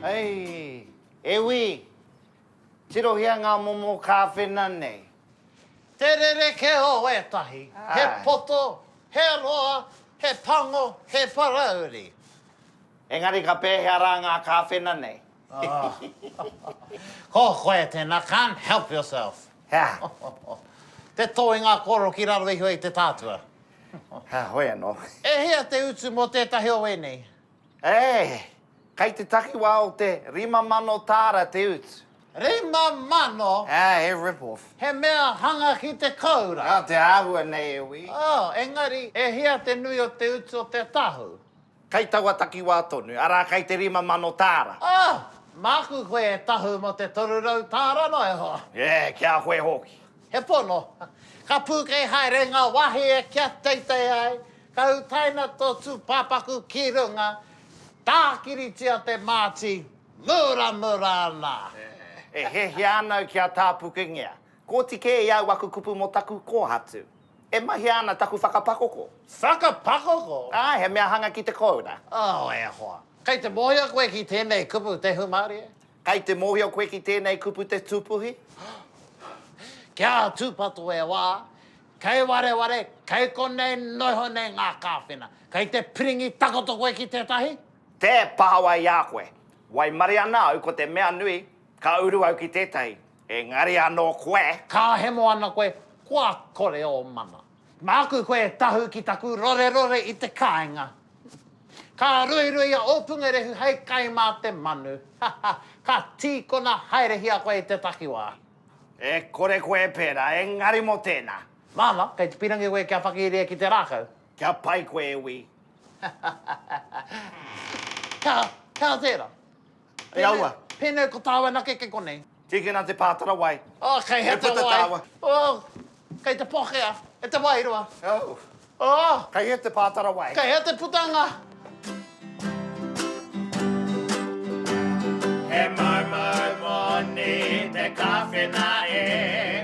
Hei! E wi! Tirohia ngā momo kāwhena nei. Te rereke o ētahi, he poto, he roa, he pango, he parauri. Engari ka pēhea rā ngā kāwhena nei? Ko koe tēnā, can't help yourself. Hea? Te tō i ngā kōrero ki raro iho i te tātua. Hea, hoi anō. E hia te utu mō tētahi o ēnei? Eh! Kei te takiwā o te rima mano tāra te utu. Rima mano? Hea, he rip off. He mea hanga ki te koura. Nā te āhua nei e wī. Oh, engari, e hia te nui o te utu o te tahu? Kei taua takiwā tonu, arā, kei te rima mano tāra. Oh! Māku koe e tahu mō te toru rau tāra noa iho. E, ki a koe hoki. He pono. Ka pūkei haere ngā wāhie kia teitei ai, ka utaina tō tūpāpaku ki runga, tākiritia te māti, muramura ana. E hiahia ana au kia tāpukengia. Kōti kē i au aku kupu mō taku kōhatu. E mahia ana taku whakapakoko. Whakapakoko? Āe, he mea hanga ki te kōura. Oh, e hoa. Kei te mōhio koe ki tēnei kupu te hūmārie? Kei te mōhio koe ki tēnei kupu te tūpuhi? Kia tūpato e wā, kei wareware, kei konei noiho nei ngā kāwhena. Kei te piringi takoto koe ki tētahi? Tē pahawa i a koe. Waimarie ana au ko te mea nui, ka uru au ki tētahi. Engari anō koe, ka hemo ana koe, kua kore ō mana. Māku koe e tahu ki taku rorerore i te kāinga. Ka ruirui a Ōpungerehu hei kai mā te manu, haha, ka tīkona haerehia koe i te takiwā. E kore koe e pērā, engari mō tēnā. Māna, kei te pirangi koe kia whakiria ki te rākau. Kia pai koe e wī. Ka, ka tērā. Te awa. Pēnei ko tāua nake kei konei. Tīkina te pātara wai. Oh, kei hea te wai. Oh, kei te pokea e te wairua. Oh. Oh. Kei hea te pātara wai. Kei hea te putanga. He mau mau moni te kawhena e.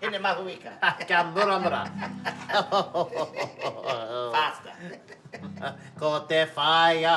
Hine mahuika. Kia muramura. Faster. Ko te whaea.